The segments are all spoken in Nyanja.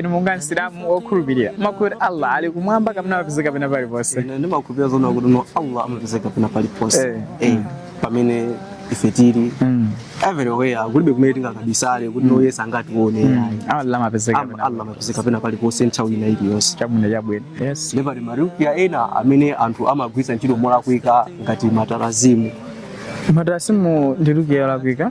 inu monga msilamu wokhulupirira mumakhulupirira kuti allah ali kumwamba kapena amapezeka pena paliponse Ine ndimakhulupirira zoona kuti no allah amapezeka pena paliponse Eh. Eh, pamene ife tili Mm. everywhere kulibe kumene tingakabisale kuti no iye sangatione ayi. allah amapezeka Am- pena allah amapezeka pena paliponse nthawi ina iliyonse chabwino chabwino yes ndipo pali marukia ena amene anthu amagwiritsa ntchito molakwika ngati matarazimu matarazimu ndi rukiya yolakwika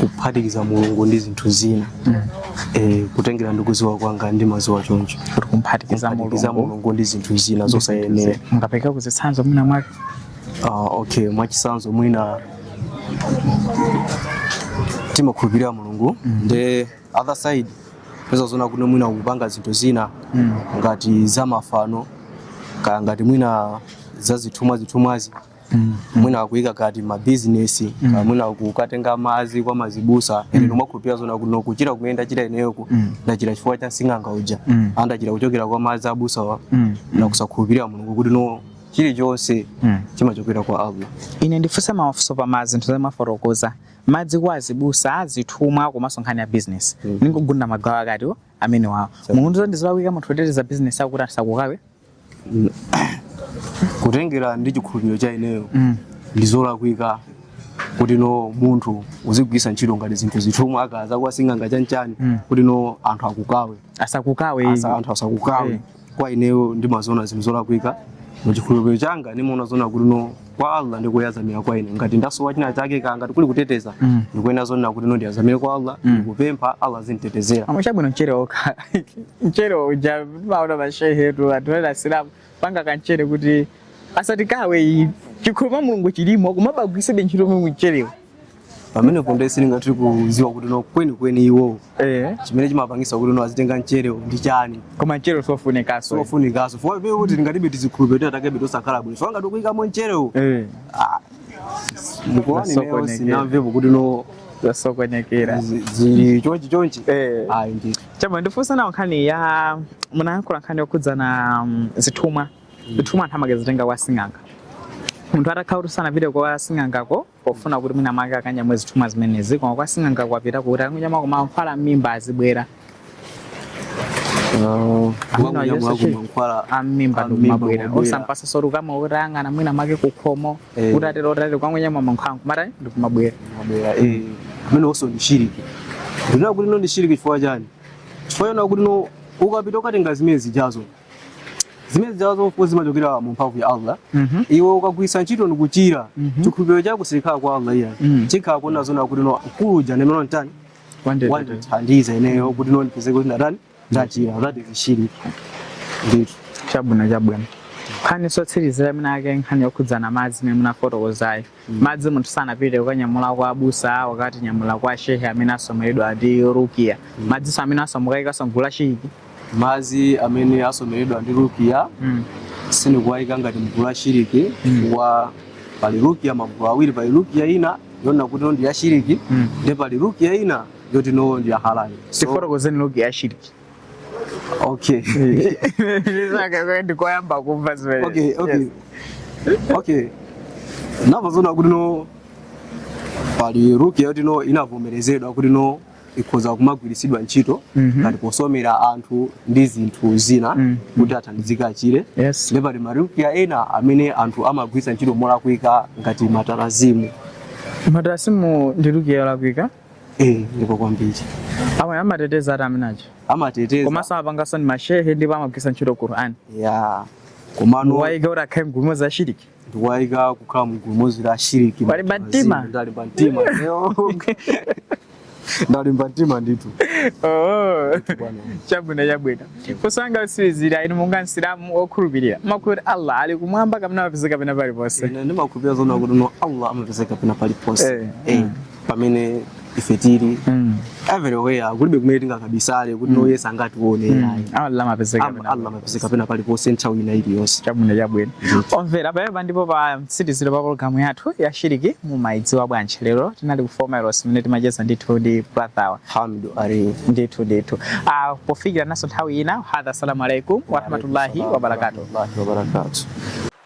kuphatikiza mulungu ndi zinthu zina eh, kutengera ndi kuziwa kwanga ndimaziwa choncho kuti kumphatikiza kuphatikiza mulungu mulungu ndi zinthu zina zosayenera mungaperekeko zitsanzo mwina mwake Ah, okay mwachisanzo mwina timakhulupirira mulungu nde other side peza zona kuti mwina ukupanga zinthu zina ngati za mafano kaya ngati mwina za zithumwa zithumwazi mwina akuyika ngati mabizinesi mm. mwina kukatenga madzi kwa mazibusa mm. ine ndimakhulupirira zona kuti no kuchira kumene ndachira ineyoku mm. ndachira chifukwa cha sing'anga uja mm. ah ndachira kuchokera kwa madzi abusawa mm. na kusakhulupirira mulungu kuti no chilichonse mm. chimachokera kwa allah ine ndifunse mafunso pa mazinthu zomwe mwafotokoza madzi kwa azibusa azithumwa komanso nkhani ya bizinesi mm. ningogunda magawo atatu amenewawo monga ndi zolakwika munthu kuteteza bizinesi akuti asakukawe kutengera ndi chikhulupiriro cha ineyo mm. ndi zolakwika kuti no munthu uzigwisa ntchito ngati zinthu zithumwa kaya za kwa sing'anga chanchani mm. kuti no anthu akukawe asakukawe Asa, anthu asakukawe mm. kwa ineyo ndimaziona zinthu zolakwika muchikhulupiriro changa ndimaona zona kuti no kwa allah ndikuyazamira kwa ine ngati ndasowa china chake kaya ngati kuli kuteteza Mm. ndikuyenera zonena kuti ndiyazamire kwa allah Mm. ndikupempha allah azinditetezera amwe chabwino mchere okha mchere uja maona mashehetu anthu ena asilamu panga kamchere kuti asatikawe iyi chikhulupiriro mwa mulungu chilimo koma amagwisabe ntchito mwe mcherewo pamenepo nde sindingathe kuziwa kuti no kwenikweni iwowo eh. chimene chimapangisa kuti no azitenga mcherewo ndi chani koma mchere sofunikaso sofunikaso fua pe kuti tingatibe tizikhulupiriro takebe tosakhala bwino fua ngati ukuyikamo mcherewo eh. ah, mukuona ineyo sinamvepo kuti no zasokonekera zili chonchi chonchi eh. ayi ndi chama ndifunsa nawo nkhani ya munayankhula nkhani yokhudzana mm, zithumwa mm. zithumwa anthu amakazitenga kwa sing'anga munthu atakhala kuti sanapite kwa sing'angako pofuna kuti mwina mwake akanyamwe zithumwa zimenezi koma kwa sing'anga wapitako kuti akanyamwe koma mankhwala m'mimba azibwera Ameneyonso chi- mankhwala am'mimba Am'mimba ndikumabwera kumabwera. osampasa zoti ukamwa utayang'ana mwina mwake kukhomo Eh. kuti atero kuti atero wangonyamwa mankhwala nkumata ndikumabwera mabwera eh ameneyonso ndi shiriki ndinena kuti no ndi shiriki chifukwa chani chifukwa chona kuti no ukapita ukatenga zimene zijazo zimene zijawa zofufuza zimachokera mu mphamvu ya Allah mhm. iwe ukagwiritsa ntchito ndikuchira mhm. chikhulupiriro chako silikhala kwa Allah iyayi mhm. chikhala kunena zonena kuti no kuja ndi amene watani wandithandiza ineyo kuti no ndipeze kuti ndatani ndachira that is shiriki ndithu chabwino chabwino nkhani yotsirizira imeneyi ake nkhani yokhudzana madzi imene munafotokozayo madzi munthu sanapite kukawanyamula kwa abusa wakawanyamula kwa shehe amene asomeredwa ndi rukia madziwo amenewanso mukuwayikanso mgulu la shiriki madzi amene asomeredwa ndi rukia Mm. sindikuwayika ngati mgulu la shiriki wa pali rukia magulu awiri pali rukia ina yonena kuti no ndi ya shiriki Mm. ndi pali rukia ina yoti no ndi ya halali so, tifotokozeni rukia ya shiriki okay Ndizake- ndikoyamba kumva zimene okay okay Yes. okay nanga zonena kuti no pali rukiya yoti no inavomerezedwa kuti no ikhoza kumagwiritsidwa ntchito Mhm. ngati posomera anthu ndi zinthu zina Mhm. kuti athandizike achire yes ndipo pali marukiya ena amene anthu amagwiritsa ntchito molakwika ngati matalasimu matalasimu ndi rukiya yolakwika Eh, ndipo kwambiri. Awa amateteza eti amene aja. Amateteza. Koma amapangansotu ndi mashehe ndipo amagwiritsa ntchito Qur'an. Yeah. Komano mukuwaika kuti akhale mgulumo za shiriki. Ndikuwaika kukhala mgulumo za shiriki. Mwalimba mtima. Ndalimba mtima. Ndalimba mtima ndithu. Oh. Chabwino chabwino. Funso langa lotsirizira inu monga msilamu okhulupirira. Mumakhulupirira Allah ali kumwamba kapena amapezeka pena paliponse. Ine ndimakhulupirira zonena kuti no Allah amapezeka pena paliponse. Eh. eh. pamene ife tili Mm. everywhere kulibe kumene tingakabisale kuti no iye sangatione Mm. ayi Allah amapezeka Am- pena. allah amapezeka pena paliponse nthawi ina iliyonse chabwino chabwino omvera pamenepa ndipo pa mtsiriziro pa pologalamu yathu ya shiriki mumayidziwa bwanji lero tinali ku Form Heroes mmene timacheza ndithu ndi brother Hamidu Ali ndithu ndithu Ah, pofikiranso nthawi ina hadha assalamu alaikum warahmatullahi wabarakatuh wabarakatuh